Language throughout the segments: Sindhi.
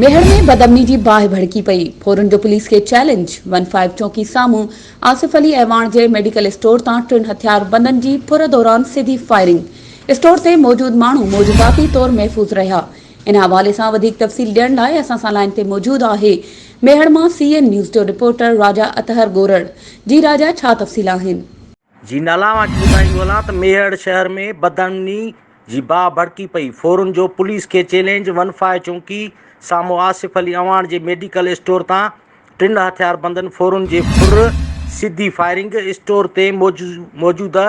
ميهڙ ۾ بدامني جي باهه ڀڙڪي پئي، ڦورن جو پوليس کي چئلينج، ون فائيو چونڪي سامهون آصف علي اعواڻ جي ميڊيڪل اسٽور تان ٽن هٿياربندن جي ڦر دوران سڌي فائرنگ، اسٽور تي موجود ماڻهو معجزاتي طور محفوظ رهيا، ان حوالي سان وڌيڪ تفصيل ڏيڻ لاء اسان سان لائين تي موجود آهي ميهڙ مان سي اين نيوز جو رپورٽر راجا اطهر ڳورڙ، جي راجا ڇا تفصيل آهن؟ جي نالا اوهان کي ٻڌائيندو هلان ته ميهڙ شهر ۾ بدامني جي باهه ڀڙڪي پئي، ڦورن جو پوليس کي چئلينج، ون فائو چونڪي سامهون آصف علي اعواڻ جي ميڊيڪل اسٽور تان ٽن هٿياربندن ڦورن جي ڦر سڌي فائرنگ، اسٽور تي موجوده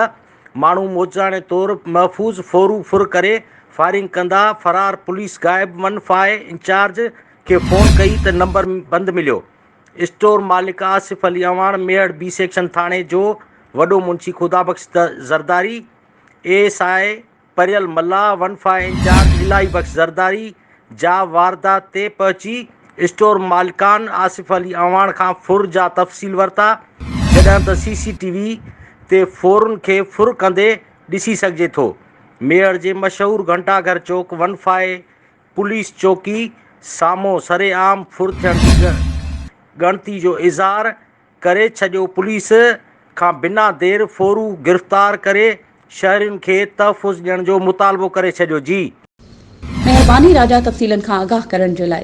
ماڻهو موجزاڻي طور محفوظ ڦورون ڦر ڪري فائرنگ ڪندا فرار پوليس غائب، ون فائو انچارج کي فون ڪئي ته نمبر بند مليو. اسٽور مالڪ آصف علي اعواڻ، ميهڙ بي سيڪشن ٿاڻي جو وڏو منشي Khuda Bakhsh Zardari, A S I پريل Mallah, one five incharge Ilahi Bakhsh Zardari جا واردات تي پهچي اسٽور مالڪان آصف علي اعواڻ کان ڦر جا تفصيل ورتا، جڏهن ته سي سي ٽي وي تي ڦرن کي ڦر ڪندي ڏسي سگهجي ٿو. ميهڙ جي مشهور Ghanta Ghar Chowk one five police چوڪي سامهون سرعام ڦر ٿيڻ جي ڳڻتي جو اظهار ڪري ڇڏيو، پوليس کان بنا دير ڦورو گرفتار ڪري شهرين کي تحفظ ڏيڻ جو مطالبو ڪري ڇڏيو جي. مهرباني راجا تفصيلن کان آگاهه ڪرڻ جي لاء.